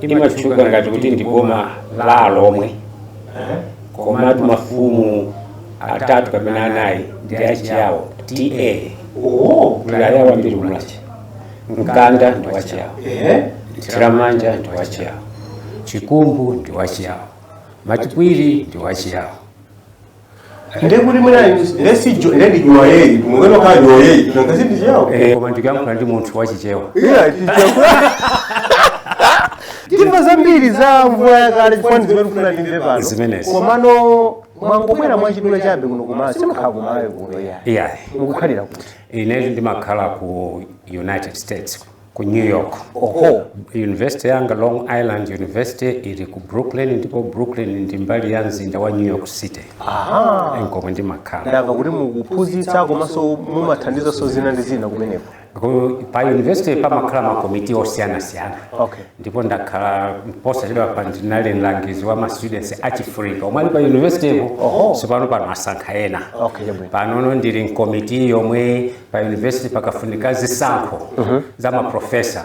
imatchuka ngati kuti ndi boma la alomwe eh, komatu mafumu atatu kapena anayi ndi achiyawo ta oh, kuli ayawo ambiri ku mulanje mkanda ndi wachiyawo eh, mthiramanja ndi wachiyawo chikumbu ndi wachiyawo matipwiri ndi wachiyawo ndiye kuti mwina ndiye si jo- ndiye ndi juwayeyi kumukena kukhala juwayeyi nanga si ndi chiyawo Eh, koma ndikuyankhula ndi munthu wachichewa iya chichakula timva zambiri za mvula yakale chifukwa ndi zimene kufuna ndimve pano Zimenezi. komano mwangobwera mwachidule chabe kuno kumala simukhala kumalawi kuno iya iyayi mukukhalira kuti inetu ndimakhala ku united states ku new york oho university yanga long island university ili ku brooklyn ndipo brooklyn ndi mbali ya mzinda wa new york city aha nkomwe ndimakhala ndamva kuti mukuphunzitsa komanso mumathandizanso zina ndi zina kumeneko Ku- pa university pamakhala makomiti osiyanasiyana okay ndipo ndakhala posachedwapa ndinali mlangizi wa ma students achifrika omwe ali pa university po sopano pano asankha ena okay chabwino panono ndili mkomiti yomwe pa university pakafunika zisankho za maprofesa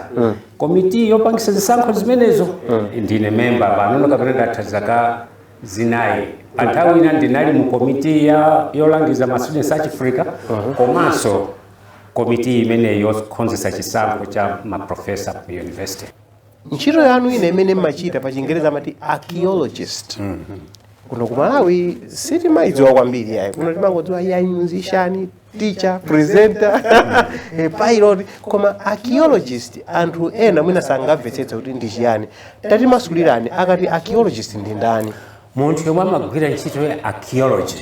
komiti yopangisa zisankho zimenezo ndine memba panono kapena ndatha zaka zinayi pa nthawi ina ndinali mu komiti yolangiza ma students achifrika komanso komiti imeneyi yokonzesa chisankho cha maprofesa ku university ntchito yanu ina imene mmachita pa chingereza amati archaeologist kuno ku malawi sitimayidziwa kwambiri yayi kuno timangodziwa ya musician teacher presenter eh, pilot koma archaeologist anthu ena mwina sangamvetsetse kuti ndi chiyani tatimasulirani akati archaeologist ndi ndani munthu yomwe amagwira ntchito ya archaeology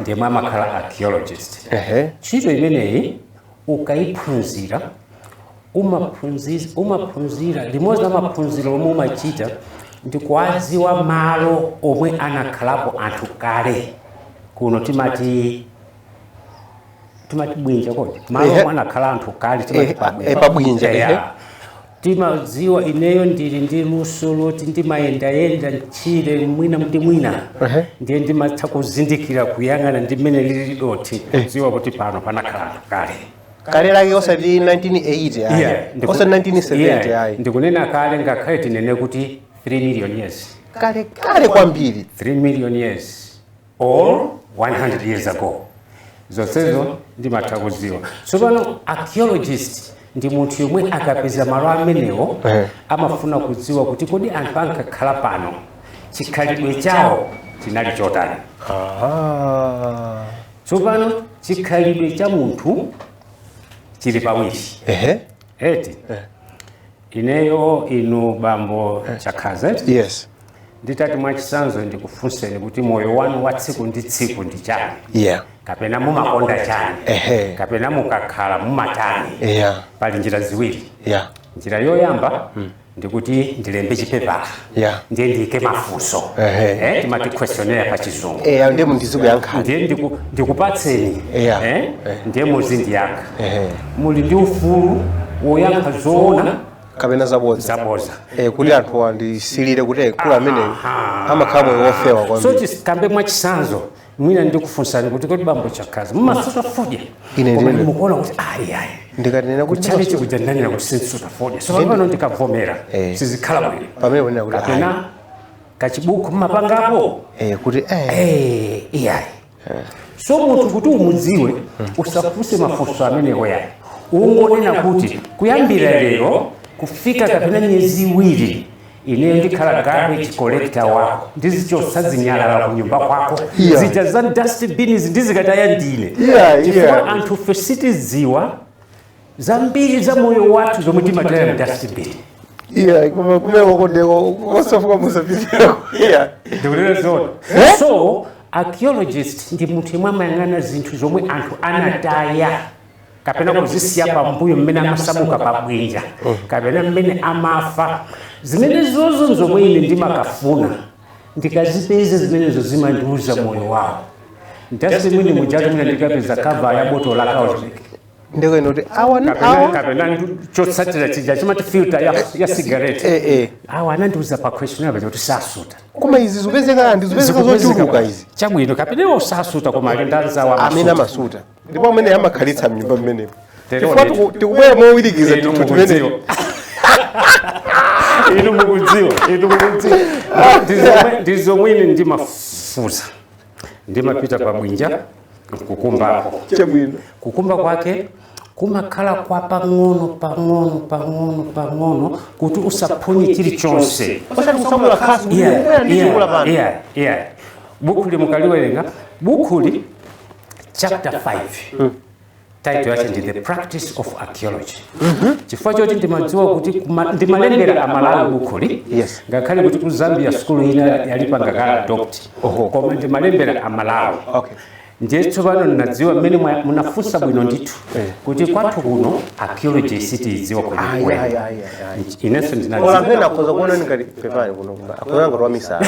ndi yomwe amakhala archaeologist ehe ntchito imeneyi ukayiphunzira umaphunzi- umaphunzira limodzi la maphunziro omwe umachita ndi kuwadziwa malo omwe anakhalapo anthu kale kuno timati timati bwinja kodi malo omwe anakhala anthu kale timati pabwinja timadziwa ineyo ndili ndi luso loti ndimayendayenda mtchire mwina ndi mwina ndiye ndimatha kuzindikira kuyang'ana ndi mmene lili dothi eh. kudziwa kuti pano panakhala anthu kale kale lake osati 1980 osati 1970 ayi ndikunena kale ngakhale tinene kuti 3 million years kale kale kwambiri 3 million years or 100 years ago zonsezo ndimatha kuziwa tsopano archaeologist ndi munthu yomwe akapeza malo amenewo eh. amafuna kudziwa kuti kodi anthu ankakhala pano chikhalidwe chawo chinali chotani tsopano chikhalidwe cha munthu chili pawiri eti eh. Ineyo inu bambo Chakhaza yes nditati mwachisanzo ndikufunseni kuti moyo wanu wa tsiku ndi tsiku ndi chani yeah kapena mumakonda chani Ehe. kapena mukakhala mumatani yeah pali njira ziwiri yeah njira yoyamba ndikuti ndilembe chipepala ya ndiye ndiyike mafunso Ehe. eh, timati questionnaire pa chizungu eya ndiye mundizikuyankhani ndiye ndiku- ndikupatseni Yeah. eh, Eh. ndiye muzindiyankha Ehe. muli ndi ufulu woyankha zoona kapena zabodza zaboza Eh, kuti anthu andisilire kuti eh, koma amene Aha. amakhala moyo wofewa so kwambiri tikambe mwachisanzo mwina ndikufunsani kuti kodi bambo Chakhaza mumasuta fodya Ine koma ndine. mukuona kuti ayi ayi ndikanena kuti kuchalichi kuja ndanena kuti sinsuta fodya so pano ndikavomera Eh. sizikhala bwino pamene munena kuti ayi kapena kachibuku mmapangapo Eh, kuti eh, Eh, iyayi so munthu kuti umudziwe usafunse mafunso amenewo yayi ungonena kuti kuyambira lero kufika kapena miyezi iwiri ineyo ndikhala garbage collector wako ndizichotsa zinyalala kunyumba kwako Yeah. zija za dustbin ndizikataya ndine Yeah, chifukwa yeah. anthufe sitidziwa zambiri za moyo wathu zomwe timataya mu dustbin iya koma kumeko ndeko kosafuka musapitako iya ndikunena zoona so archaeologist ndi munthu yemwe amayang'ana zinthu zomwe anthu anataya kapena kuzisiya pambuyo mmene amasamuka pabwinja kapena mmene amafa zimenezozo nzomwe ine ndimakafuna ndikazipeza zimenezo zimandiuza moyo wawo ndasi mwini mujatu mwina ndikapeza kava ya botolo la kaunjika ndikuona kuti awa ni- kapena awa kapena ndu- chotsalira chija chimati filter ya, ya sigareti Eh, eh. awa anandiuza pa questionnaire paja kuti sasuta koma izi zikupezeka ndi zikupezeka zochuluka izi chabwino kapena iwo sasuta koma alendo awa amene amasuta ndipo amene amakhalitsa mnyumba mmenepo chifukwa tiku- tikubwera mowirikiza Inu tinthu timenepo inu mukudziwa inu mukudziwa Ndizomwe- ndizomwe ine ndimafufuza ndimapita pa bwinja nkukumbako chabwino kukumba kwake kumakhala kwa pang'ono pang'ono pang'ono pang'ono kuti usaphonye chilichonse osati kunyamula khasu kuti Yeah, ndikubwera ndi yeah, chikula pano yeah, yeah. bukhuli mukaliwerenga bukhuli chapter 5 title yake ndi the practice of archaeology chifukwa choti ndimadziwa kuti kuma- ndimalembera amalawi bukhuli Yes. ngakhale kuti ku zambia sukulu ina yalipanga ka adopt Oho. koma ndimalembera amalawi Okay. ndiye tsopano ndinadziwa mmene mwa- munafunsa bwino ndithu Eh. kuti kwathu kuno archaeology sitiidziwa Ah, yeah, kwenikweni yeah, yeah, yeah. inenso Ola ndinadziwa mwina akhoza kuona ngati pepani kuno kuba. Akhoza ngati wamisala.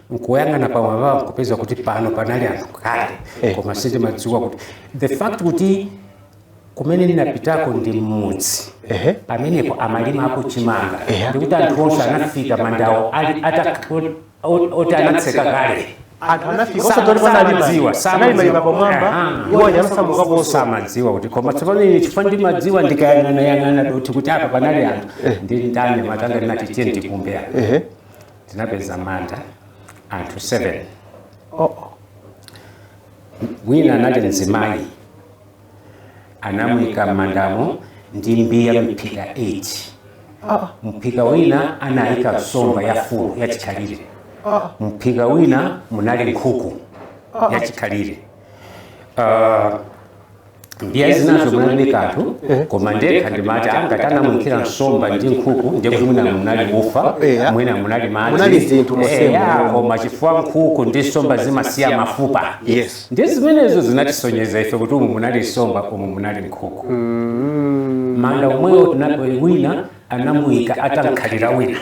nkuyang'ana pamwamba nkupeza kuti pano panali anthu kale Eh. koma sindimadziwa kuti the fact kuti kumene ndinapitako ndi mmudzi Ehe. pamenepo amalimako chimanga Ehe. ndikuti anthu onse anafika mandawo ali ata- ot- ot- oti anatseka kale anthu anafika Sa- osatoli panalima samadziwa, samadziwa. analima pamwamba Aha. iwo anasamuka posa samadziwa kuti koma tsopano ine chifukwa ndimadziwa ndikayang'anayang'ana dothi kuti apa panali anthu ndi ndani matanga ndinati tiye ndikumbe apa ehe ndinapeza manda anthu 7 oo wina anali mzimayi anamuyika m'mandamo ndi mbiya mphika 8 oo mphika wina anayika nsomba ya fulu yachikhalire oo mphika wina munali nkhuku yachikhalire uh, mbiya zinazo munalibe kanthu koma ndekha ndimati aa ngati anamuyikira nsomba ndi nkhuku ndiye kuti mwina munali ufa Eya. mwina munali madzi Munali zinthu musema. Eya, koma chifukwa nkhuku ndi nsomba zimasiya mafupa Yes. ndiye zimenezo zinatisonyeza ife kuti umu munali nsomba umu munali nkhuku manda omwewo tinapoli wina anamuyika atamkhalira wina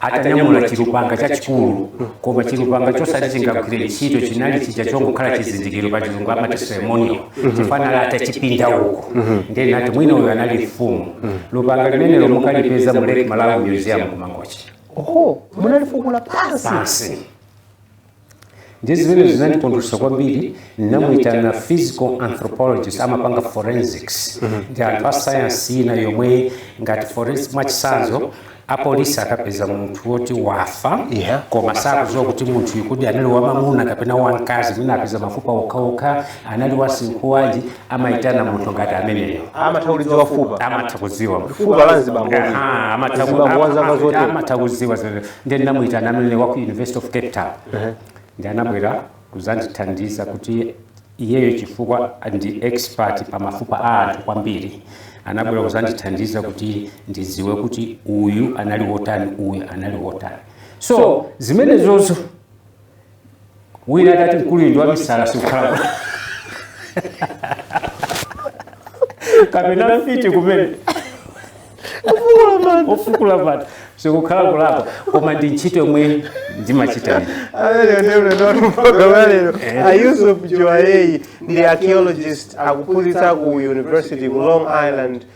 atanyamula chilupanga chachikulu koma chilupanga chosati chingagwire ntchito chinali chija chongokhala chizindikiro pa chizungu amati ceremonial chinali atachipinda uko ndiye ndinati mwina uyo anali mfumu lupanga limenelo mukalipeza mu lake malawi museum kumangochi oho munalifukula pansi pansi ndiye zimene zinandikondweresa kwambiri ndinamuitana physical anthropologist amapanga forensics ndi anthu a sayansi ina yomwe ngati forensic mwachitsanzo apolisi akapeza munthu woti wafa Yeah. koma sakuziwa kuti munthu uyu kodi anali wamamuna kapena wamkazi mwina apeza mafupa okhaokha anali wa msinkhu wanji amaitana munthu ngati ameneyo amatha kulidziwa fupa amatha kuziwa fupa la mzibambo Aha, amatha ku- Mzibambo wa zaka ama- zote. amatha kuziwa zimene- ndiye ndinamuyitana amene wa ku university of cape town ndi anabwera kuzandithandiza kuti iyeyo chifukwa ndi expert pa mafupa a anthu kwambiri anabwera kuzandithandiza kuti ndiziwe kuti uyu anali wotani uyu anali wotani so zimenezozo wina atati mkuluyu ndi wamisala sikukhala kapena mfiti kumene ofukula manda sikukhala kulapa koma ndi ntchito yomwe ndimachita a yusuf juwayeyi ndi archaeologist akuphunzitsa ku university ku long island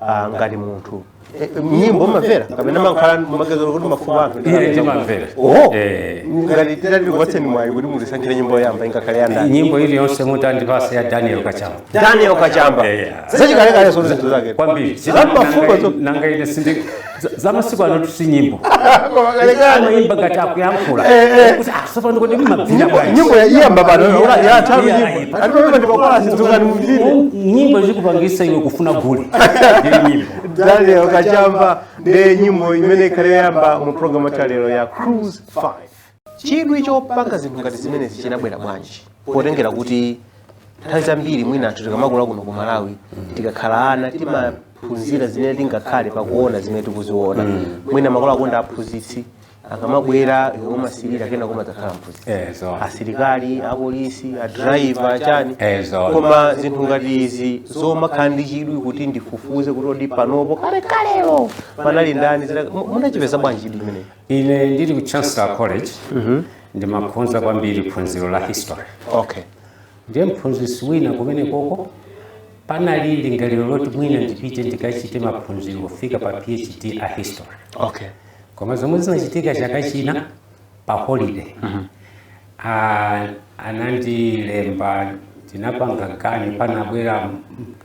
ah, ngati munthu Eh, eh, nyimbo mumamvera kapena mumakhala mumangozera kuti mafupa a anthu ndi Ine kapena- ndimamvera. Oho. Eh. ngati titati tikupatseni mwayi kuti mutisankhire nyimbo yoyamba ingakhale ya ndani nyimbo iliyonse mutandipasa ya daniel kachamba daniel kachamba Eh, yeah. zachikalekale zonse zinthu zake kwambiri Za mafupa zo- nanga ine sindi zamasiku ano tu si nyimbo amayimba ngati akuyankhula sopano kodi mumavina bwanji nyimbo yayamba pano yathanso nyimbo atipamene ndipakala sizungani mvire nyimbo zikupangitsa iwe kufuna gule ndiyo nyimbo daniel kachamba ndi nyimbo imene ikhale yoyamba mu programu yathu ya lero ya cruise 5 chidwi chopanga zinthu ngati zimenezi chinabwera bwanji potengera kuti nthawi zambiri mwina anthu tikamakula kuno ku malawi tikakhala ana timaphunzira zimene tingakhale pakuona zimene tikuziona mwina makolo akonda aphunzitsi akamabwera iwe umasirira kenako umadzakhala mphunzitsi ezo asilikali apolisi adrayiva chani Ezo. koma zinthu ngati izi zomakhala ndi chidwi kuti ndifufuze kuti kodi panopo kale kalelo panali ndani zina- mu- munachipeza bwanji chidwi imeneyi Ine ndili ku Chancellor College ndinkakhoza kwambiri phunziro la history. Okay. Ndiye mphunzitsi wina komwe koko panali lingaliro loti mwina ndipite ndikachite maphunziro kufika pa PhD a history. Okay. Koma zomwe zinachitika chaka china pa holiday. Ah, anandilemba ndinapanga ganyu panabwera m-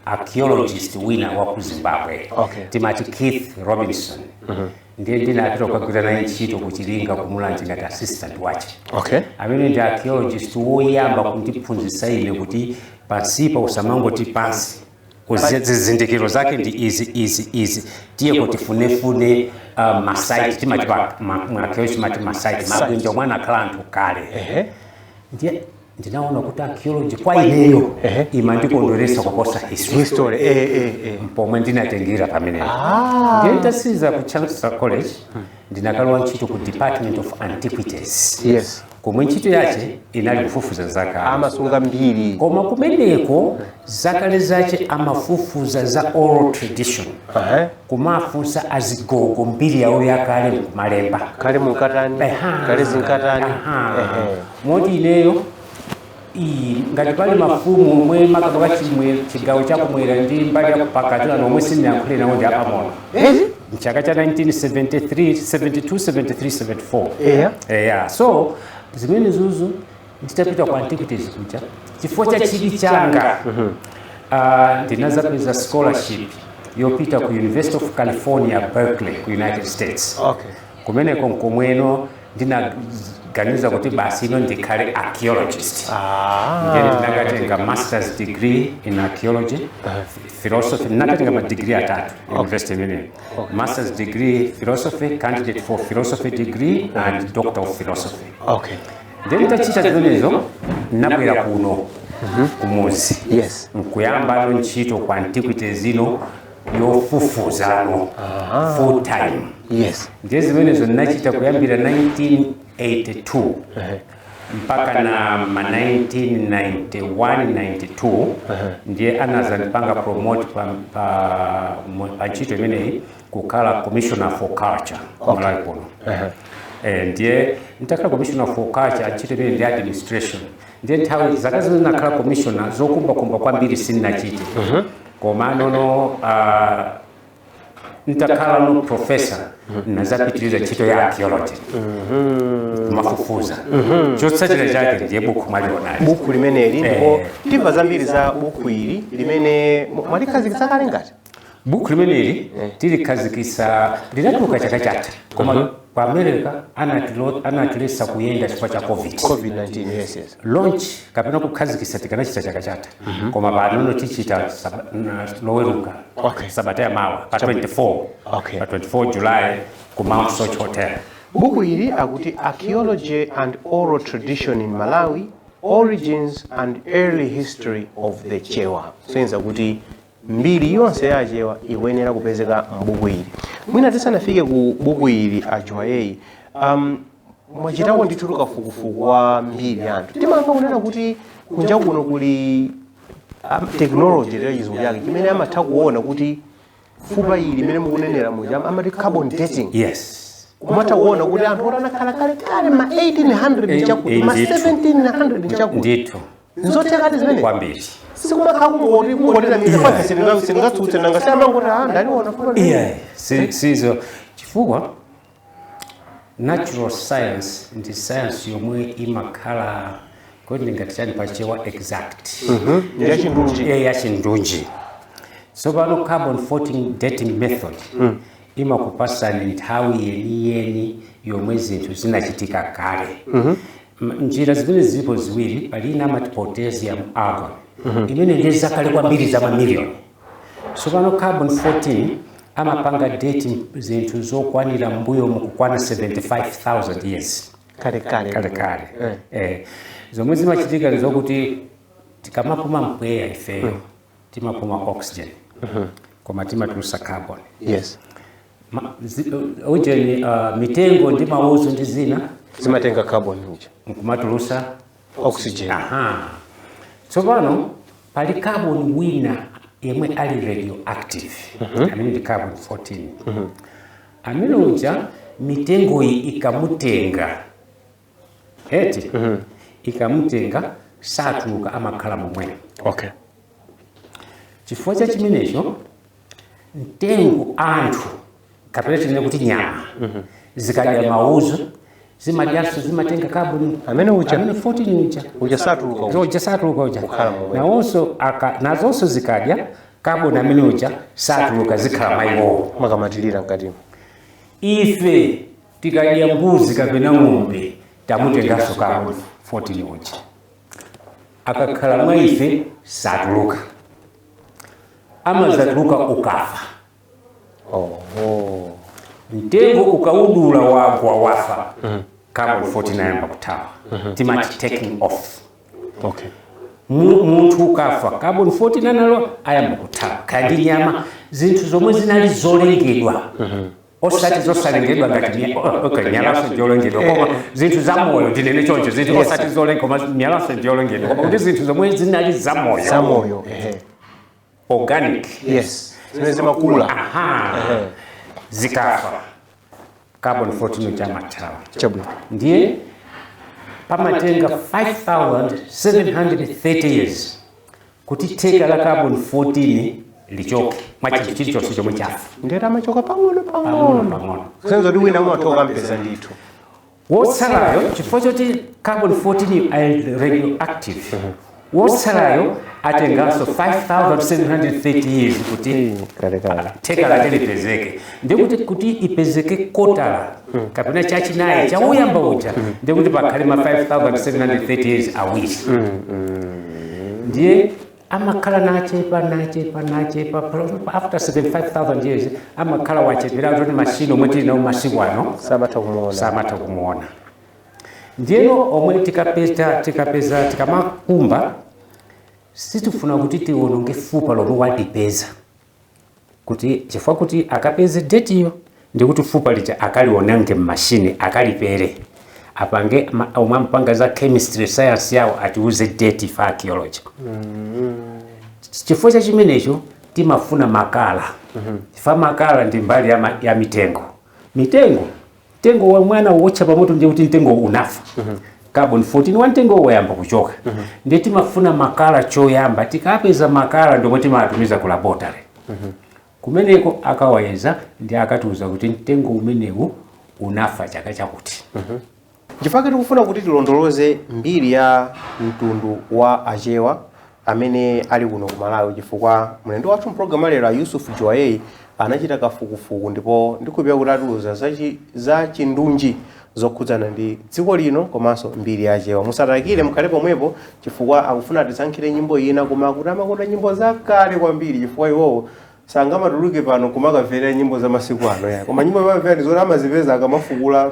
archaeologist wina wa ku Zimbabwe. Okay. Timati Keith Robinson. ndiye ndinapita kukagwira naye ntchito ku chilinga ku mulanje ngati assistant wache okay amene ndi archaeologist woyamba kundiphunzitsa ine kuti pansipa usamangoti pansi Kuzi- zizindikiro zake ndi izi izi izi tiye tikafunefune uh, masaiti timati pa- ma- mu archaeology timati masaiti mabwinja omwe anakhala anthu kale ndiye ndinaona kuti archaeology kwa ineyo Ehe. imandikondweretsa kuposa history history eh, eh, eh. pomwe ndinatengera pamenepo Ah. ndiye nditatsiriza ku chancellor college ndinakalowa ntchito ku department of antiquities yes komwe ntchito yache inali kufufuza zakale amasunga mbiri koma kumeneko zakale zache amafufuza za oral tradition Aha. kumafunsa azigogo mbiri yawo yakale nkumalemba kale munkatani Aha. kale zinkatani Aha. Ehe. moti ineyo iyi ngati pali mafumu omwe makamaka chino chigawo chakumwera ndi mbali ya kupakati kuno omwe sinayankhule nawo ndi apang'ono Ezi? mchaka cha 1973 72 73 74 Eya. eya so zimenezozo nditapita ku antiquities kuja chifukwa cha chidwi changa ah, ndinadzapeza scholarship yopita ku university of california berkeley ku united states Okay. kumeneko nkomweno ndinaganiza kuti basi ine ndikhale archaeologist ndiye ah. ndinakatenga masters degree in archaeology philosophy ndinakatenga madigiri atatu university imeneyo masters degree philosophy candidate for philosophy degree and doctor of philosophy okay. ndiye nditachita zimenezo ndinabwera kuno mhm. kumuzi yes. nkuyambano ntchito ku antiquities ino yofufuzano Aha. full time yes ndiye zimenezo ndinachita kuyambira 1982 Ehe. mpaka na ma 1991-92 ndiye anazandipanga promote pa, pa, mo- pa ntchito imeneyi kukhala commissioner for culture okay. malawi kuno Eh, ndiye nitakhala commissioner for culture ntchito imene ndi administration ndiye nthawi zaka zino ndinakhala commissioner zokumbakumba kwambiri sindinachite komanono ah, nditakhalano professor nazapitiriza ntchito ya archaeology kumafufuza chotsatira chake ndiye buku mwalionali buku limeneli ndipo timva zambiri za buku ili limene mu- mwalikhazikitsa kale ngati bukhu limeneli tilikhazikitsa linatuluka chaka chatha koma ku america anatilo- anatilesa kuyenda chifukwa cha covid covid-19 yes yes launch kapena kukhazikitsa tikanachita chaka chatha koma panono tichita saba- na- loweruka Okay. sabata ya mawa pa 24 Okay. pa 24 july ku mount soche hotel buku ili akuti archaeology and oral tradition in malawi origins and early history of the chewa zonena kuti mbiri yonse ya achewa ikuyenera kupezeka m'buku ili mwina tisanafike ku buku ili a Juwayeyi um, mwachitako ndithu tukafukufuku wa mbiri ya anthu timamva kunena kuti kunja kuno kuli um, technology ya chizungu chake chimene amatha kuona kuti fupa ili mmene mukunenera muja am- amati carbon dating yes kumatha kuona kuti anthu oti anakhala kale kale ma 1800 chakuti ma Ndithu. 1700 chakuti ndithu nzothekadi zimenezi kwambiri sikumakhala kungoti kungonena myth sindingatsutse nanga si amangoti ah ndaliona fupa ndi- yeah si- sizo chifukwa natural science ndi science yomwe imakhala kodi ndingati chani pachewa exact ndi yachindunji eya yachindunji tsopano carbon 14 dating method imakupasani nthawi yeniyeni yomwe zinthu zinachitika kale M, njira zimenezi zilipo ziwiri, pali ina amati potassium argon imene ndi ya zakale kwambiri za mamiliyoni. Tsopano carbon 14 amapanga date m- zinthu zokwanira m'mbuyomu kukwana 75,000 years kale kale kale kale eh. zomwe zimachitika ndi zokuti tikamapuma mpweya ifeyo timapuma oxygen koma timatulusa carbon yes Ma- zi- uh, ujeni uh, mitengo ndi mauzu ndi zina zimatenga carbon uja nkumatulusa oxygen aha tsopano pali carbon wina yemwe ali radioactive amene ndi carbon 14 amene uja mitengoyi ikamutenga heti ikamutenga satuluka amakhala momwemo okay chifukwa cha chimenecho mtengo anthu kapena tinene kuti nyama zikadya maudzu zimadyanso zimatenga kaboni amene 14 uja satuluka nazonso zikadya kaboni amene uja satuluka zikhala mwa iwowo makamatilira mkatimo ife tikadya mbuzi kapena ng'ombe tamutenganso carbon 14 uja akakhala mwa ife satuluka amadzatuluka ukafa oho mtengo ukaudula wagwa wafa carbon 14 ayamba kuthawa timati taking off okay Mu- munthu ukafa carbon 14 anali ayamba kuthawa kaya ndi nyama zinthu zomwe zinali zolengedwa osati zosalengedwa ngati nya- o- okay, mwalanso ndi wolengedwa koma zinthu zamoyo ndinene choncho zinthu Yes. osati zolengedwa koma mwalanso ndi wolengedwa koma kuti zinthu zomwe zinali zamoyo zamoyo ehe. organic yes zimene zimakula aha Ehe. zikafa carbon 14 uja amathawa chabwino ndiye pamatenga 5730 years kuti theka la carbon 14 lichoke mwa chinthu chilichonse chomwe chafa ndiye amachoka pang'ono pang'ono pang'ono pang'ono senza kuti wina umatha kumpeza ndithu wotsalayo chifukwa choti carbon 14 ali radioactive wotsalayo atenganso 5730 years kuti theka lake lipezeke ndikuti kuti ipezeke kotala kapena chachinayi chauyamba uja ndikuti pakhale ma 5730 years awiri ndiye amakhala akuchepa akuchepa akuchepa pa- after 75000 years amakhala wachepera kuti mashini omwe tili nawo masiku ano samatha kumuona samatha kumuona ndiyeno omwe tikapeza tikapeza tikamakumba sitifuna kuti tiwononge fupa lomwe talipeza kuti chifukwa kuti akapeze date yo ndi kuti fupa lija akaliononge mmashini akalipere apange ma- omwe amapanga za chemistry science yawo atiuze date ife a archaeology chifukwa cha chimenecho timafuna makala chifukwa makala ndi mbali ya, ma, ya mitengo mitengo Mtengo womwe anawotcha pamoto ndiye kuti mtengowo unafa. Carbon 14 wa mtengowo wayamba kuchoka. Ndiye timafuna makala choyamba. Tikapeza makala ndi omwe timawatumiza ku laboratory. Kumeneko akawayeza ndi akatiuza kuti mtengo umenewu unafa chaka chakuti. Chifukwa tikufuna kuti tilondoloze mbiri ya mtundu wa Achewa amene ali kuno ku Malawi chifukwa mlendo wathu mpulogalamu ya lero a Yusuf Juwayeyi anachita kafukufuku ndipo ndikhulupirira kuti atiuza za chi- za chindunji zokhudzana ndi dziko lino komanso mbiri ya Achewa. Musadikire mukhale pomwepo chifukwa akufuna atisankhire nyimbo ina koma akuti amakonda nyimbo zakale kwambiri chifukwa iwowo sangamatuluke pano kumakamvera nyimbo za masiku ano ya koma nyimbo amamvera ndi zoti amazipeza akamafukula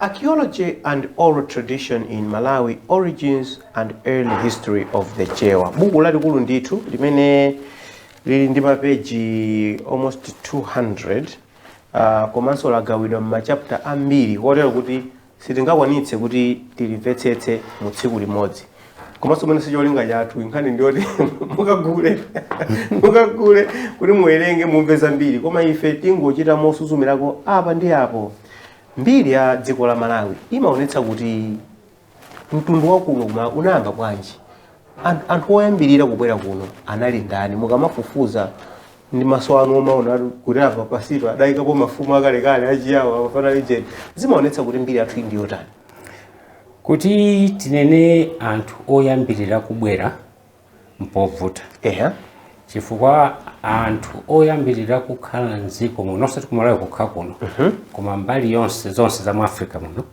Archaeology and Oral Tradition in Malawi, Origins and Early History of the Chewa. Buku lalikulu ndithu limene lili ndi mapeji almost 200 uh, komanso lagawidwa m'machapta ambiri kotero kuti sitingakwanitse kuti tilimvetsetse mu tsiku limodzi komanso mwina sicholinga chathu nkhani ndiyoti mukagule mukagule kuti muwerenge mumve zambiri koma ife tingochita mosuzumirako apa ndi apo Mbiri ya dziko la Malawi imaonetsa kuti mtundu wa kuno kuma unayamba bwanji, An- anthu oyambirira kubwera kuno anali ndani? Mukamafufuza ndi maso anu omaona kuti apa pansipa adayikapo mafumu akalekale achiyawo apa panali ujeni, zimaonetsa kuti mbiri yathu ndi yotani. kuti tinene anthu oyambirira kubwera mpovuta ehe chifukwa anthu oyambirira kukhala mdziko muno osati kumalawi kokha kuno koma mbali yonse zonse za mu africa muno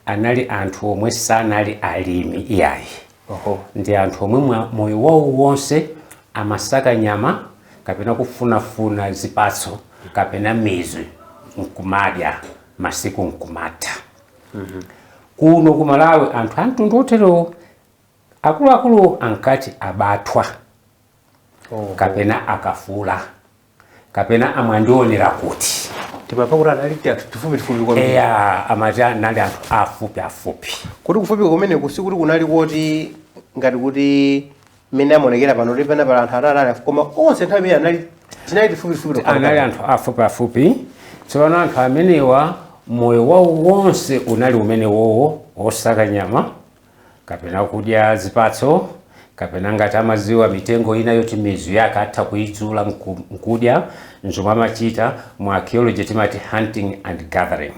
anali anthu omwe sanali alimi iyayi oho ndi anthu omwe mwa- moyo wawo wonse amasaka nyama kapena kufunafuna zipatso kapena mizu nkumadya masiku nkumatha kuno kumalawi anthu amtundu oterewo Akuluakulu ankati abathwa Oho. kapena akafula kapena amwandionera kuti Timamva kuti anali tianthu tifupifupi kwambiri. eya amati anali anthu afupi afupi Kuti kufupi kumeneku sikuti kunali koti ngati kuti mmene amaonekera pano kuti pena pali anthu atatu ali afupi. Koma onse nthawi imene anali tinali tifupifupi tokha. anali anthu afupi afupi tsopano anthu amenewa moyo wawo wonse unali umenewowo wosaka nyama kapena kudya zipatso kapena ngati amaziwa mitengo ina yoti mizu yake atha kuidzula nkudya nzomwe amachita mu archaeology timati hunting and gathering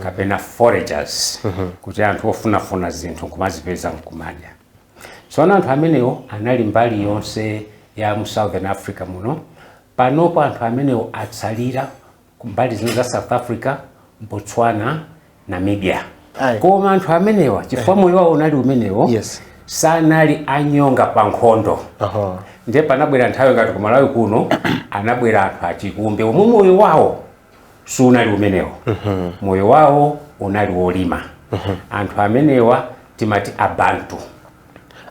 kapena foragers kuti anthu ofunafuna zinthu nkumazipeza nkumadya tsono anthu amenewo anali mbali yonse ya mu southern africa muno panopo anthu amenewo atsalira kumbali zino za south africa botswana namibia Aye. koma anthu amenewa chifukwa moyo wawo unali umenewo Yes. sanali anyonga pa nkhondo Aha. ndiye panabwera nthawi ngati kumalawi kuno anabwera anthu achikumbe omwe moyo wawo sunali umenewo moyo wawo unali wolima anthu amenewa timati abantu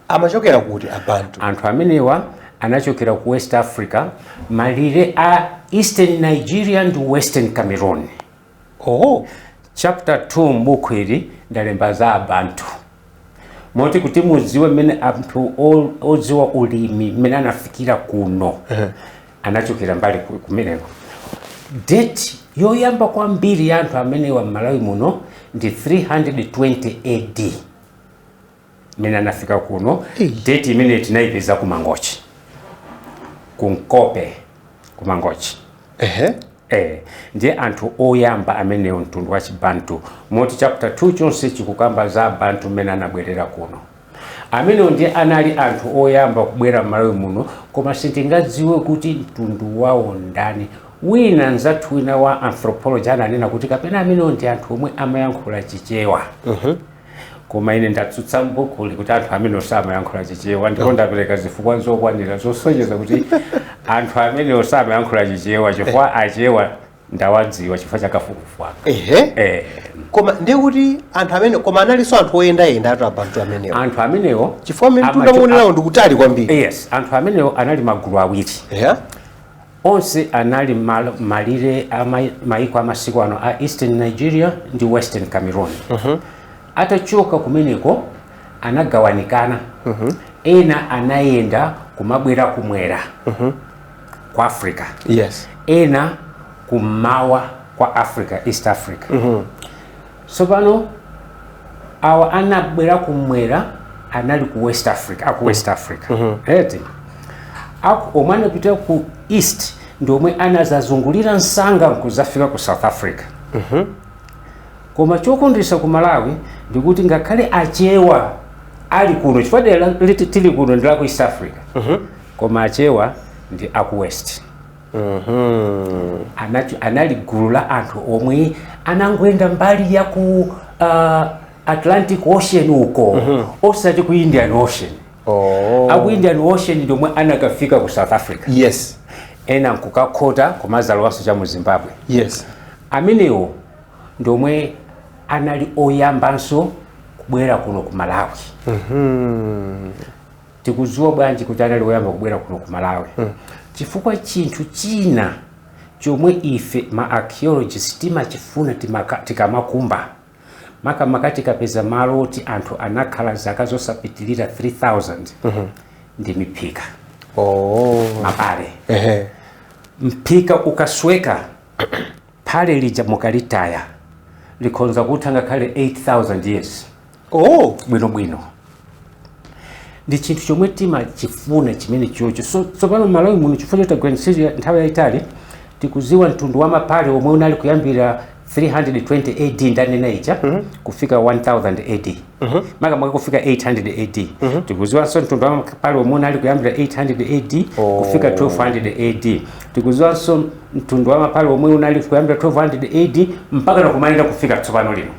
amachokera kuti abantu anthu amenewa anachokera ku west africa malire a eastern nigeria ndi western cameroon oho chapter 2 m'buku ili ndalemba za abantu moti kuti mudziwe mmene anthu o- odziwa ulimi mmene anafikira kuno anachokera mbali ku- kumeneko deti yoyamba kwambiri ya anthu amenewa m'malawi muno ndi 320 ad mmene anafika kuno Ei. date imene tinayipeza ku mangochi ku nkope ku mangochi ehe Eh, ndiye anthu oyamba amenewo mtundu wa chibantu moti chapter 2 chonse chikukamba za abantu mmene anabwerera kuno amenewo ndiye anali anthu oyamba kubwera m'malawi muno koma sitingadziwe kuti mtundu wawo ndani wina nzathu wina wa anthropology ananena kuti kapena amenewo ndi anthu omwe amayankhula chichewa koma ine ndatsutsa m'bukuli kuti anthu amenewo samayankhula chichewa ndipo ndapereka zifukwa zokwanira zosonyeza kuti anthu amenewo samayankhula chichewa chifukwa achewa ndawadziwa chifukwa chakafukufuku aka ehe eh. koma ndiye kuti anthu amenewo koma analinso anthu oyendayendatu abantu amenewo anthu amenewo chifukwa mmene amacho- mtunda mwaonerawo ndikutali kwambiri yes anthu amenewo anali magulu awiri eya Onse anali m'malo m'malire a mai- maiko a masiku ano a Eastern Nigeria ndi Western Cameroon. Atachoka kumeneko anagawanikana, ena anayenda kumabwera kumwera kwa Africa, yes ena kummawa kwa Africa, East Africa. Tsopano, awa anabwera kumwera anali ku west africa aku west africa eti aku omwe anapita ku east ndi omwe anazazungulira msanga nkuzafika ku south africa koma chokondweretsa ku malawi ndikuti ngakhale achewa ali kuno chifukwa dera loti tili kuno ndi la ku east africa koma achewa ndi aku west anati anali gulu la anthu omwe anangoyenda mbali ya ku uh, atlantic ocean uko osati ku indian ocean Oh. aku indian ocean ndiomwe anakafika ku south africa Yes. ena nkukakhota kumazalowanso cha mu zimbabwe Yes. amenewo ndiomwe anali oyambanso kubwera kuno ku malawi tikudziwa bwanji kuti anali oyamba kubwera kuno ku malawi mm. chifukwa chinthu china chomwe ife ma archaeologists timachifuna tikamakumba makamaka tikapeza malo oti anthu anakhala zaka zosapitilira 3000 mm -hmm. ndi miphika oh. mapale uh -huh. mphika ukasweka phale lija mukalitaya likhonza kutha ngakhale 8000 years oh bwinobwino ndi chinthu chomwe timachifuna chimene chocho so tsopano malawi muno chifukwa choti tagwira ntchito nthawi yayitali tikuziwa mtundu wa mapale omwe unali kuyambira 320 ad ndanena ija mm -hmm. kufika 1000 ad mm -hmm. makamaka kufika 800 ad mm -hmm. tikuziwanso mtundu wa mapale omwe unali kuyambira 800 ad oh. kufika 1200 ad tikuziwanso mtundu wa mapale omwe unali kuyambira 1200 ad mpaka nakumalira kufika tsopano lino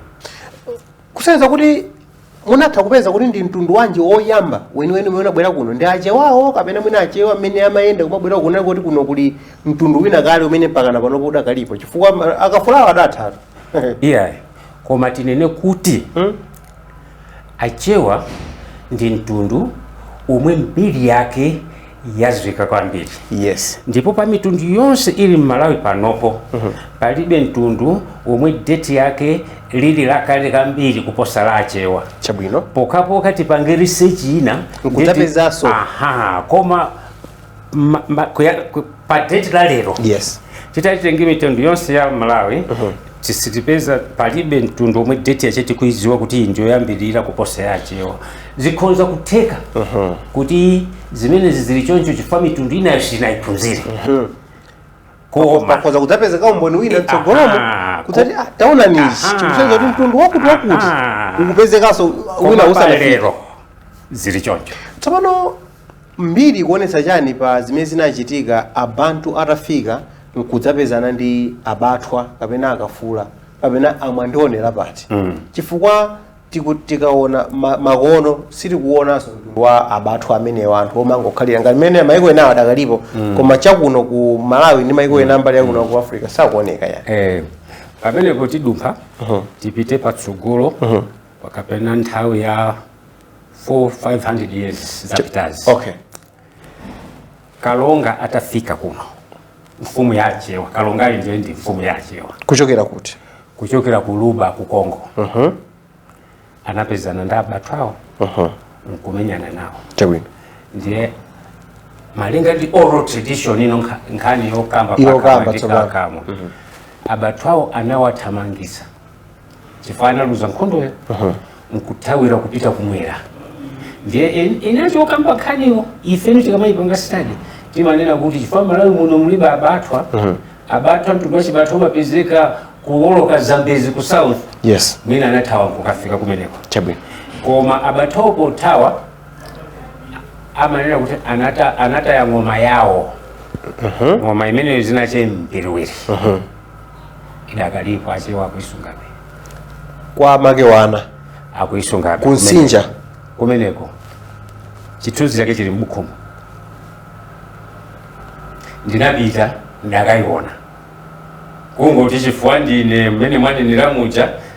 kusonyeza kuti munatha kupeza kuti ndi mtundu wanji woyamba weniweni umene unabwera kuno ndi achewawo kapena mwina achewa mmene amayenda kumabwera kuno kuti kuno kuli mtundu wina kale umene mpakana panopo udakalipo chifukwa ma- akafulawo adathatu iyayi koma tinene kuti Hmm? achewa ndi mtundu omwe mbiri yake yadziwika kwambiri yes ndipo pa mitundu yonse ili m'malawi panopo palibe mtundu womwe deti yake lili lakale kwambiri kuposa la achewa chabwino pokapoka tipange research ina nkudzapezanso. nditi- aha koma ma, ma, kuya, ku, pa deti la lero yes titati tenge mitundu yonse ya malawi sitipeza palibe mtundu omwe deti yache tikuidziwa kuti iyi ndiyoyambirira kuposa ya achewa zikhonza kutheka kuti zimenezi zili choncho chifukwa mitundu inayo sinayiphunzire koma pakhoza kudzapezeka umboni wina mtsogolomo Aha, kudzati ko- "Ah, taonani izi Aha. zikusonyeza kuti mtundu wakuti wakuti Aha. ukupezekanso wina koma usanafika lero zili choncho tsopano Mbiri ikuonetsa chani pa zimene zinachitika a Bantu atafika nkudzapezana ndi a Bathwa kapena a Kafula kapena a Mwandionera pati? Chifukwa tiku- tikaona ma- makono sitikuonanso mtundu wa a Bathwa amenewa anthu omangokhalira ngati mmene maiko enawo adakalipo koma chakuno ku Malawi ndi maiko ena mbali yakuno ku Africa sakuoneka ayi. Eh, pamenepo tidumpha tipite patsogolo kapena nthawi ya 4 500 years zapitazi okay kalonga atafika kuno mfumu ya achewa kalonga ali ndiye ndi mfumu ya achewa kuchokera kuti kuchokera ku luba ku kongo uh-huh. anapezana ndi abathwawo uh-huh. nkumenyana nawo chabwino ndiye malinga ndi oral tradition ino nkha- nkhani yokamba Yokamba pakamwa ndi tsopano. pakamwa. abathwawo anawathamangisa chifukwa analuza nkhondoyo nkuthawira kupita kumwera ndiye in- inacho okamba nkhaniwo ifenso tikamayipanga stadi timanena kuti chifukwa malawi muno mulibe abathwa abathwa mtundu wa chibathwa umapezeka kuwoloka zambezi ku south yes mwina anathawa kukafika kumeneko chabwino koma abathwawo pothawa amanena kuti anata, anataya ng'oma yawo ng'oma imeneyo zinache mbiliwiri idakalipo achewa akuisungabe kwa make wana akuisungabe ku Msinja kumeneko chithunzi chake chili m'bukhumo ndinapita ndakayiona kungoti chifukwa ndine mmene mwanenera muja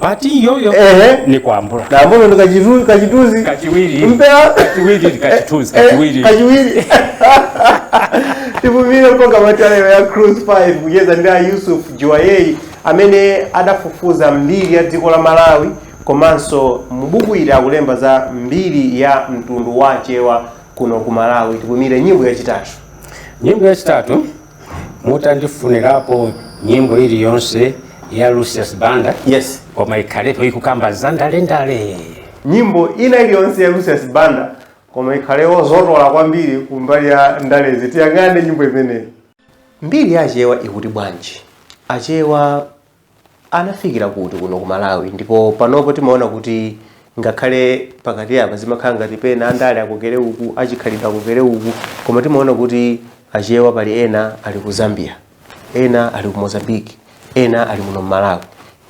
pati iyoyo Ehe. ni kwambula Namuno ndo kachitu- kachituzi. kachiwiri Mpera. kachiwiri kachituzi Eh, kachiwiri kachiwiri. Tipumire mu programu ya Cruise 5 kucheza ndi a Yusuf Juwayei amene adafufuza mbiri ya dziko la Malawi komanso mubuku ili akulemba za mbiri ya mtundu wa Chewa kuno ku Malawi. Tipumire nyimbo yachitatu. nyimbo yachitatu mutandifunirapo nyimbo iliyonse ya Lucius Banda yes koma ikhalepo ikukamba za ndalendale nyimbo ina iliyonse ya Lucius Banda koma ikhale yozotola kwambiri kumbali ya ndalezi tiyang'ane nyimbo imeneyi mbiri ya achewa ikuti bwanji achewa anafikira kuti kuno ku malawi ndipo panopo timaona kuti ngakhale pakati apa zimakhala ngati pena andale akokere uku achikhalidwe akokere uku koma timaona kuti achewa pali ena ali ku zambia ena ali ku mozambique ena ali muno mmalawi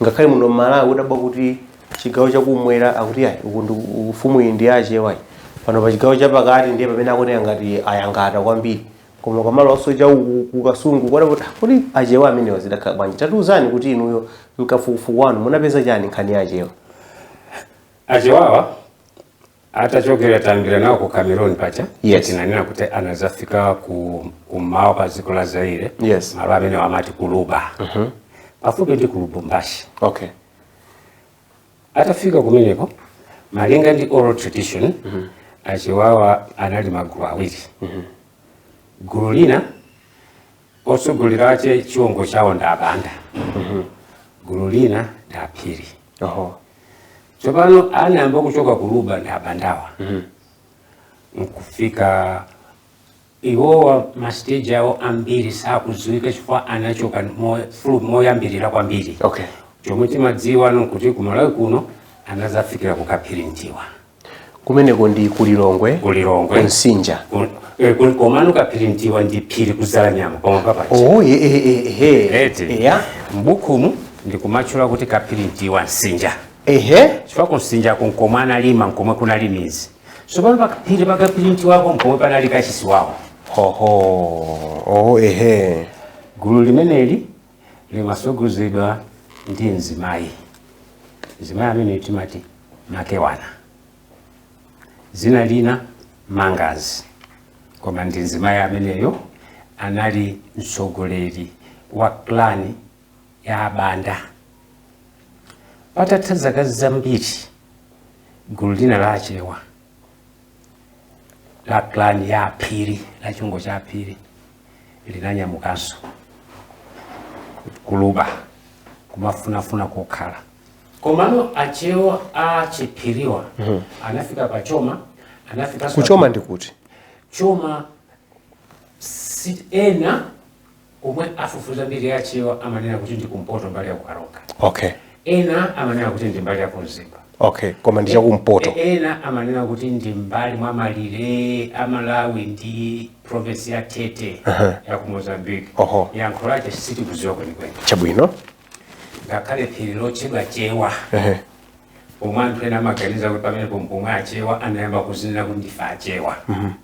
ngakhale muno mmalawi udabwa kuti chigawo chakumwera akuti ayi uku ndi ufumu uyu ndi achewa ayi pano pa chigawo chapakati ndiye pamene akuoneka ngati ayanga kwambiri koma ukamalowanso cha uku ku kasungu kwana kuti "Ah, kodi achewa amenewa zidakhala bwanji tatiuzani kuti inuyo mkafukufuku wanu munapeza chani nkhani ya achewa achewawa atachokera tayambira nawo ku cameroon paja Yes. tinanena kuti anazafika kummawa kwa dziko la zaire Yes. malo amene amati kuluba pafupi ndi ku lubumbashi okay atafika kumeneko malinga ndi oral tradition mm -hmm. achewawa anali magulu awiri mm -hmm. gulu lina otsogolera ache chiwongo chawo ndi abanda mm -hmm. gulu lina ndi aphiri uh -huh. tsopano anayamba kuchoka kuluba ndi abandawa mm -hmm. nkufika Iwowa ma stage awo ambiri sakudziwika chifukwa anachoka mo, moyambirira kwambiri okay. chomwe timadziwa nkuti ku Malawi kuno anazafikira kukaphirintiwa kumeneko ndi kulilongwe kulilongwe kumsinja eh, komano kaphirintiwa ndi phiri kudzalanyama koma papachi oh, ye, ye, ye, ye. Eti. Yeah. mbukumu ndikumatchula kuti kaphirintiwa msinja Ehe. chifukwa kumsinja kunkomwe analima nkomwe kunali midzi tsopano paphiri pa kapirintiwako mpomwe panali kachisi wawo hoho oh ehe gulu limeneli limasogozedwa ndi mzimayi mzimayi amene timati makewana zina lina mangazi koma ndi mzimayi ameneyo anali mtsogoleri wa klani ya Banda. Patatha zaka zambiri, gulu lina la Achewa la clan ya Aphiri, la chiwongo cha Aphiri linanyamukanso ku Luba kumafunafuna kokhala. Komano Achewa a Chiphiriwa anafika pa Choma, anafika ku Choma ndi kuti? Choma si ena omwe afufuza mbiri ya achewa amanena kuti ndi kumpoto mbali ya kukaronga okay ena amanena kuti ndi mbali ya kumzimba okay koma ndi chakumpoto E- ena amanena kuti ndi mbali mwa malire a malawi ndi province ya tete ya ku mozambique Oho. yankho lake sitikudziwa kwenikweni chabwino ngakhale phiri lotchedwa chewa Ehe. omwe anthu ena amaganiza kuti pamenepo mpomwe achewa anayamba kuzinena kuti ndife achewa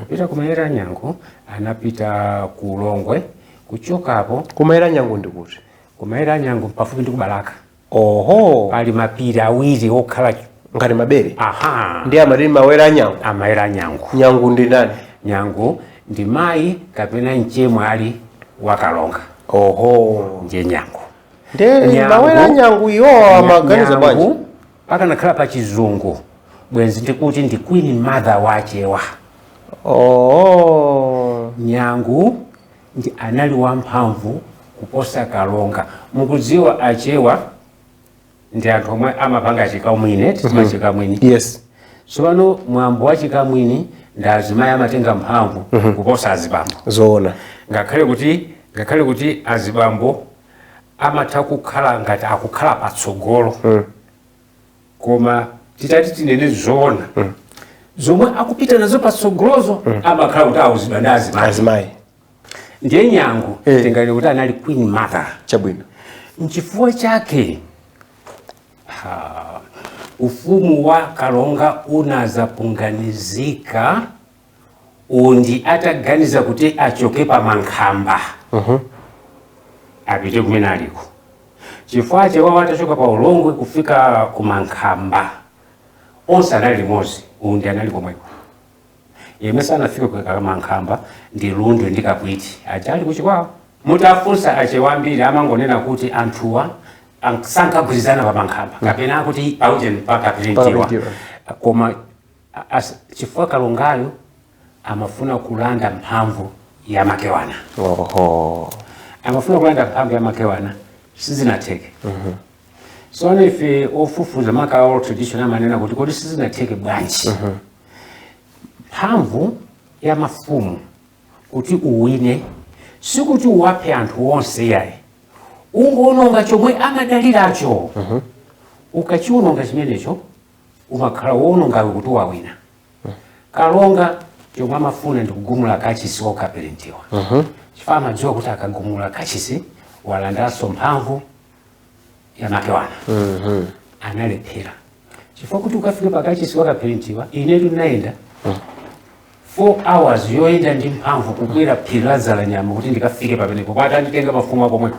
kupita kumawere a nyangu anapita ku ulongwe kuchokapo kumawere a nyangu ndi kuti kumawere a nyangu pafupi ndi kubalaka oho pali mapiri awiri okhala ngati mabere aha ndi amati mawere a nyangu mawere a nyangu nyangu ndi ndani nyangu ndi mayi kapena mchemwali wa kalonga oho ndiye nyangu ndi Nyangu. mawere a nyangu iwo amaganiza bwanji Nyangu pakanakhala pa chizungu bwenzi ndikuti ndi queen mother wa achewa oh. nyangu ndi anali wamphamvu kuposa kalonga mukudziwa achewa ndi anthu omwe amapanga chikamwini timati mm-hmm. chikamwini yes tsopano mwambo wa chikamwini ndi azimayi amatenga mphamvu mm-hmm. kuposa azibambo zoona ngakhale kuti ngakhale kuti azibambo amatha kukhala ngati akukhala patsogolo mm. koma titati tinene zoona mm. zomwe akupita nazo patsogolozo mm. amakhala kuti auzidwa ndi azimayi ndiye nyangu eh. tinganene kuti anali queen mother chabwino nchifukwa chake ha, ufumu wa kalonga unazapunganizika undi ataganiza kuti achoke pa mankhamba apite kumene aliko chifukwa achewawa atachoka pa ulongwe kufika ku mankhamba onse anali limodzi undi anali komweko yemwe sanafike kukakhala mankhamba ndi lundu ndi kaphwiti aja ali kuchikwawa mutafunsa achewa ambiri amangonena kuti anthuwa an- sankagwirizana pa mankhamba kapena akuti paujeni pakapirintiwa Pakapirintiwa. koma chifukwa kalongayo amafuna kulanda mphamvu ya makewana oho amafuna kulanda mphamvu ya makewana sizinatheke so ife ofufuza maka oral tradition amanena kuti kodi sizinatheke bwanji mphamvu ya mafumu kuti uwine sikuti uwaphe anthu onse yayi ungoononga chomwe amadaliracho ukachiwononga chimenecho umakhala woononga kuti wawina kalonga chomwe amafuna ndi kugumula kachisi wa kapirintiwa mhm. chifukwa amadziwa kuti akagumula kachisi walandaso mphamvu ya makewana mhm. analephera chifukwa kuti ukafika pakachisi wa kapirintiwa inetu ndinayenda 4 mhm. hours yoyenda ndi mphamvu kukwera phiri la dzalanyama kuti ndikafike pamenepo kwati anditenga mafumu akomweko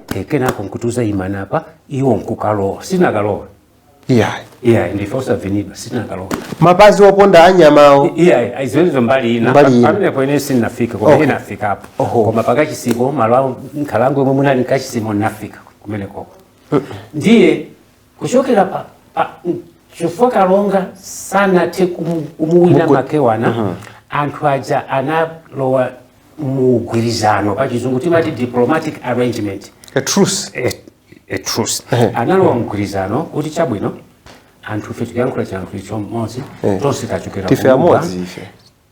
kenako nkutiuza imani apa iwo nkukalowa sinakalowa iyayi iyayi ndife osavinidwa sinakalowa mapazi oponda anyamawo iyayi ayiziwenezo mbali ina Mbali ina. pamenepo ine sinafika koma Okay. ine nafikapo Oho. koma pakachisiko malo awo nkhalango yomwe munali kachisimo nafika kumenekoko ndiye kuchokera pa, pa chifukwa kalonga sanathe kumu- kumuwina Mugu- makewana Aha. anthu aja analowa mugwirizano pa chizungu timati diplomatic arrangement a truce a, a truce Ehe. analowa mgwirizano kuti chabwino anthu ife tikuyankhula chiyankhulo chimodzi Eh. tonse tachokera ndife kumodzi. amodzi ife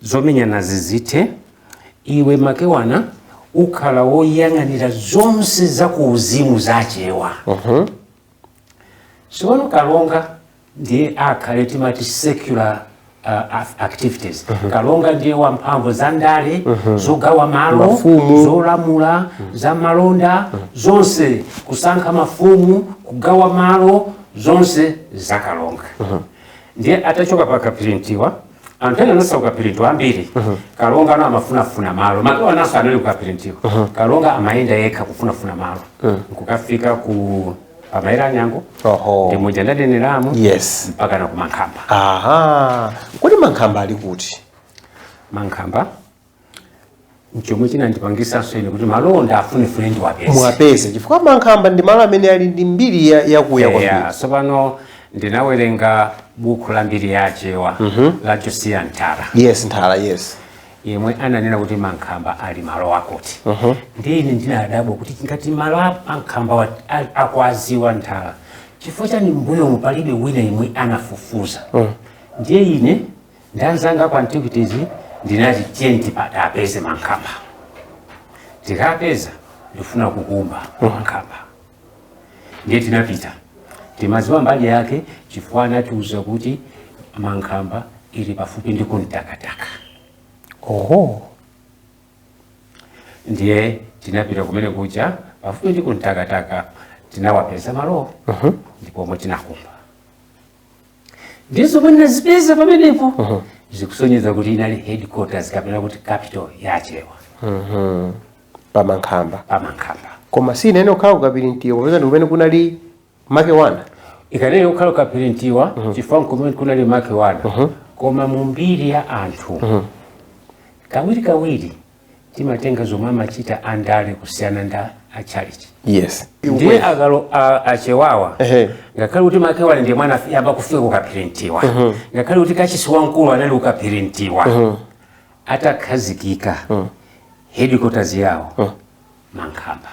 zomenyana zizithe iwe makewana ukhala woyang'anira zonse za kuuzimu zachewa Tsopano Kalonga ndiye akhale timati secular uh, activities mm -hmm. Kalonga ndiye wa mphamvu za ndale mm -hmm. zogawa malo zolamula mm -hmm. za malonda mm -hmm. zonse kusankha mafumu kugawa malo zonse za Kalonga mm -hmm. ndiye atachoka pa kapirintiwa anthu ena anatsala kukapirintiwa ambiri kalonga ano amafunafuna malo makewana naso anali kukapirintiwa kalonga amayenda yekha kufunafuna malo nkukafika ku pamayera anyango Oho. ndi muja ndanenera mu yes mpaka na kumankhamba aha kodi mankhamba ali kuti mankhamba nchomwe chinandipangisanso ine kuti malowo ndiwafunefune ndiwapeze muwapeze chifukwa mankhamba ndi malo amene ali ndi mbiri ya- yakuya kwambiri Yeah, tsopano ndinawerenga buku la mbiri ya achewa la josiya ntara yes nthala yes yemwe ananena kuti mankhamba ali malo akuti ndiye ine ndinadabwa kuti ngati malo a mankhamba wa- a- akuwaziwa nthala chifukwa chani mbuyomu palibe wina yemwe anafufuza ndiye ine nda anzanga kwa antiquities ndinati tiyeni tikapeze mankhamba tikapeza ndifuna kukumba mankhamba ndiye tinapita timadziwa mbali yake chifukwa anatiuza kuti mankhamba ili pafupi ndi kumtakataka oho ndiye tinapita kumene kuja pafupi ndi kumtakataka tinawapeza malowo ndipo omwe tinakumba ndiye zomwe ndinazipeza pamenepo zikusonyeza kuti inali headquarters kapena kuti capital ya achewa Mhm. pamankhamba pamankhamba koma siyinayenera kukhala ku kaphirintiwa popeza ndi kumene kunali makewana ikanayenera kukhala ku kaphirintiwa chifukwa nkumene kunali makewana koma mu mbiri ya anthu kawiri kawiri timatenga zomwe amachita andale kusiyana nda achalichi yes ndiye akalo a- achewawa Ehe. ngakhale kuti makewana ndi amene anayamba kufika kukaphirintiwa ngakhale kuti kachisi wamkulu anali kukaphirintiwa atakhazikika headquarters yawo mankhamba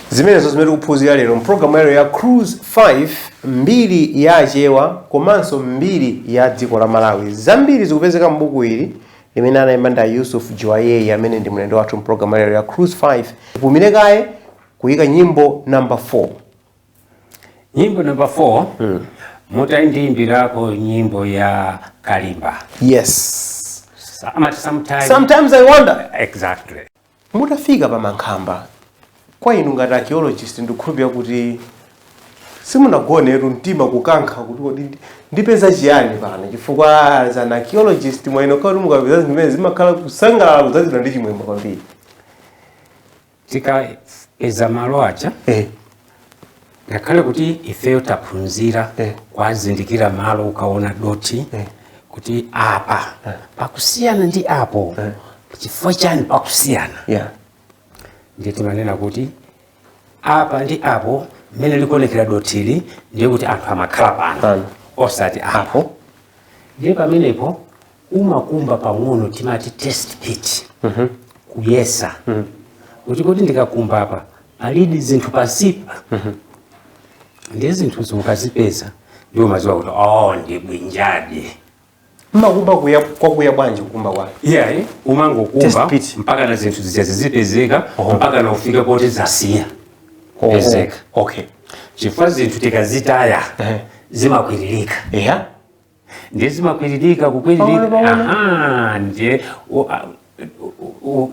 zimenezo zimene tikuphunzira lero mpulogalamu yalero ya cruise 5 mbiri ya achewa komanso mbiri ya dziko la malawi zambiri zikupezeka m'buku ili limene analemba ndi a yusuf juwayeyi amene ndi mlendo wathu mpulogalamu yalero ya cruise 5 tipumire kaye kuyika nyimbo number 4 nyimbo number 4 mm. mutandiimbirako nyimbo ya kalimba yes sometimes, sometimes i wonder exactly Mutafika pa Mankhamba, kwa inu ngati archaeologist ndikukhulupirira kuti simunagonetu mtima kukankha kuti kodi ndi- ndipeza chiyani pano chifukwa as an archaeologist mwina imakhala kuti mukapeza zinthu zimenezo mumakhala kusangalala kudzazidwa ndi chimwemwe kwambiri. tikapeza malo aja eh. ngakhale kuti ifeyo taphunzira eh. kuwazindikira malo ukaona dothi eh. kuti apa eh. pakusiyana ndi apo eh. chifukwa chani pakusiyana yeah. ndiye timanena kuti apa ndi apo mmene likuonekera dothili ndiye kuti anthu amakhala pano osati apo ndiye pamenepo umakumba pang'ono timati test pit kuyesa kuti kodi ndikakumba apa palidi zinthu pansipa ndiye zinthu zija ukazipeza ndiye umadziwa kuti oh ndi bwinjadi mmakumba kuya kwakuya bwanji kukumba kwake iyayi umangokumba Test pit. mpaka na zinthu zija zizipezeka Oho. mpaka na ufike poti zasiya kupezeka okay chifukwa zinthu tikazitaya Ehe. zimakwiririka eya ndiye zimakwiririka kukwiririka aha ndiye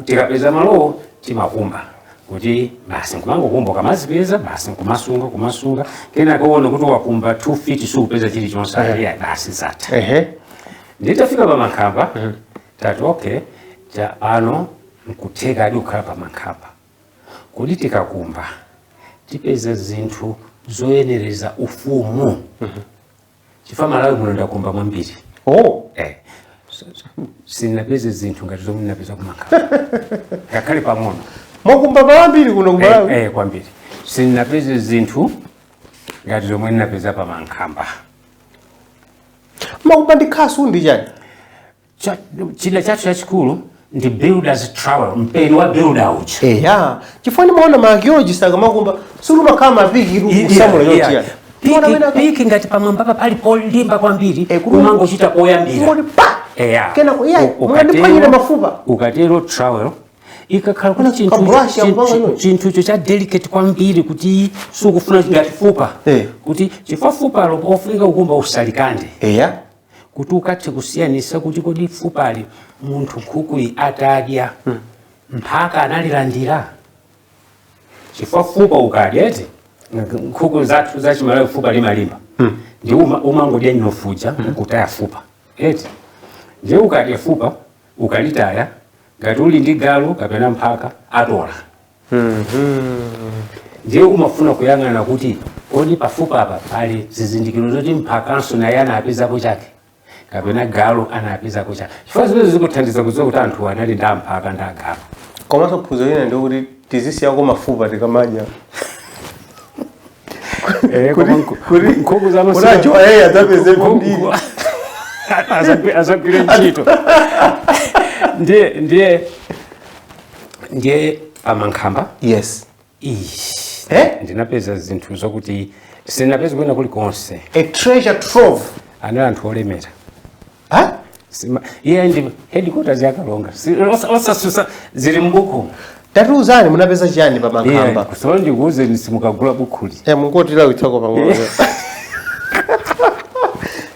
tikapeza malowo timakumba kuti basi nkumangokumba ukamazipeza basi nkumasunga kumasunga kenako waona kuti wakumba 2 feet sukupeza chilichonse yeah. basi zatha ehe nditafika pa mankhamba mm -hmm. tati okay taona pano nkuthekadi kukhala pa Mankhamba kuti tikakumba tipeza zinthu zoyenereza ufumu mm -hmm. chifukwa malawi muno ndakumba mwambiri oh. eh. sindinapeze zinthu ngati zomwe ndinapeza kumankhamba ngakhale pang'ono mwakumba mwambiri kuno kumalawi eh, eh, kwambiri sindinapeze zinthu ngati zomwe ndinapeza pa mankhamba mumakumba ndi khasu ndi chani chida chathu chachikulu ndi builders trowel mpeni wa builder uja eh. ya chifukwa ndimaona ma archaeologists akamakumba sikumakhala mapiki kusamula yotiya piki ngati pamwambapa pali polimba kwambiri eh, kumangochita poyambira kenako iye mwandiphwanyira mafupa ukatero trowel ikakhala kuti chinthucho cha delicate kwambiri kuti sukufuna ngati fupa eh. kuti chifukwa fupalo lofunika kukumba usalikande kuti ukathe kusiyanisa kuti kodi fupali munthu nkhukuyi atadya hmm. mphaka analilandira chifukwa fupa ukadya eti nkhuku zathu zachimalawi fupa limalimba hmm. ndiye umangodya mnofu uja hmm. kutaya fupa eti ndiye ukadya fupa ukalitaya ngati uli ndi galu kapena mphaka atola ndiye umafuna kuyang'ana kuti kodi pafupa apa pali zizindikiro zoti mphakanso naye anapezako chake kapena galu anapezako chake chifukwa zimenezi zikuthandiza kudziwa kuti anthu anali ndi amphaka ndi agalu komanso phunziro lina ndikuti tizisiyako mafupa tikamadya Eh, koma nku- kuti- nkhuku zanu kuti sika- ajowa yeye adzapeze Nku- mbiri. nku- Adzagwi- adzagwire ntchito ndiye ndiye ndiye pamankhamba yes Ish, Eh? ndinapeza zinthu zokuti sindinapeza kwina kulikonse a treasure trove anali anthu olemera Ha? Sima, iye ndi headquarters ya Kalonga. Si- osa- Osatsutsa zili m'buku. Tatiuzani munapeza chiyani pa Iye mankhamba? kusolo ndikuuze ndiye simukagula bukhuli. Eh mungotilawitsako pang'ono.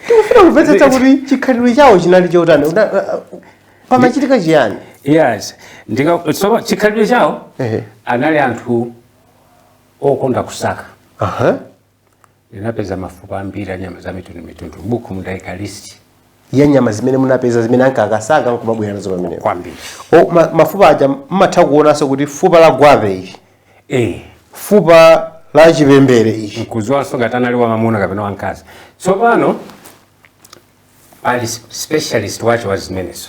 Tikufuna kumvetsetsa kuti chikhalidwe chawo chinali chotani. Una- uh, uh, Pamachitika chiyani? Yes. Ndika so chikhalidwe chawo Ehe. anali anthu okonda kusaka. Aha. ndinapeza mafupa ambiri a nyama za mitundumitundu m'buku mudaika list ya nyama zimene munapeza zimene ankakasaka nkumabwera nazo pamenepo kwambiri O, ma, mafupa aja mmatha kuonanso kuti fupa la gwape ili eh fupa la chipembere ichi nkuziwanso ngati anali wamamuna kapena wamkazi tsopano ali specialist wacho wa zimenezo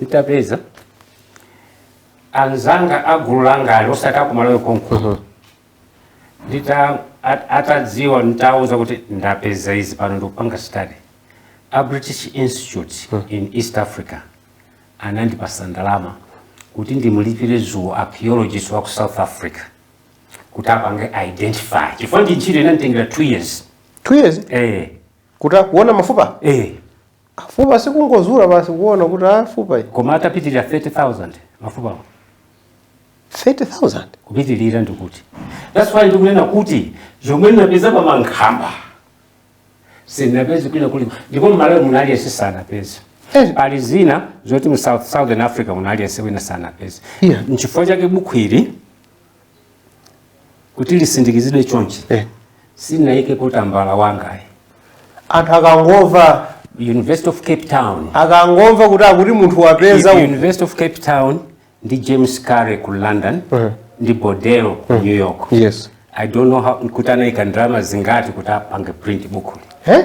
nditapeza anzanga a gulu langa ali osati akumalawi konko ndita at- atadziwa nditawuza kuti ndapeza izi pano ndikupanga study a british institute in east africa anandipasa ndalama kuti ndimulipire zoo archaeologist wa ku south africa kuti apange identify chifukwa ndi ntchito inanditengera two years two years eh, kuti akaone mafupa eh. Fupa sikungozula basi kuona kuti a ah, fupa ili. Koma anapitirira 30,000 mafupa awo. 30,000 kupitirira ndikuti. That's why ndikunena kuti zomwe ndinapeza pa mankhamba sindinapeze kwina kulikonse ndipo mmalawi muno aliyense sanapeza. Eh. Pali zina zoti mu South Southern Africa muno aliyense wina sanapeza. Yeah. Nchifukwa chake buku ili kuti lisindikizidwe chonchi eh. sinaikepo tambala wangayi anthu akangomva university of cape town akangomva kuti akuti munthu wapeza university of cape town ndi james currey ku london uh eh. -huh. ndi boydell ku uh eh. -huh. new york yes. i don't know how kuti anaika ndalama zingati kuti apange print bukuli eh?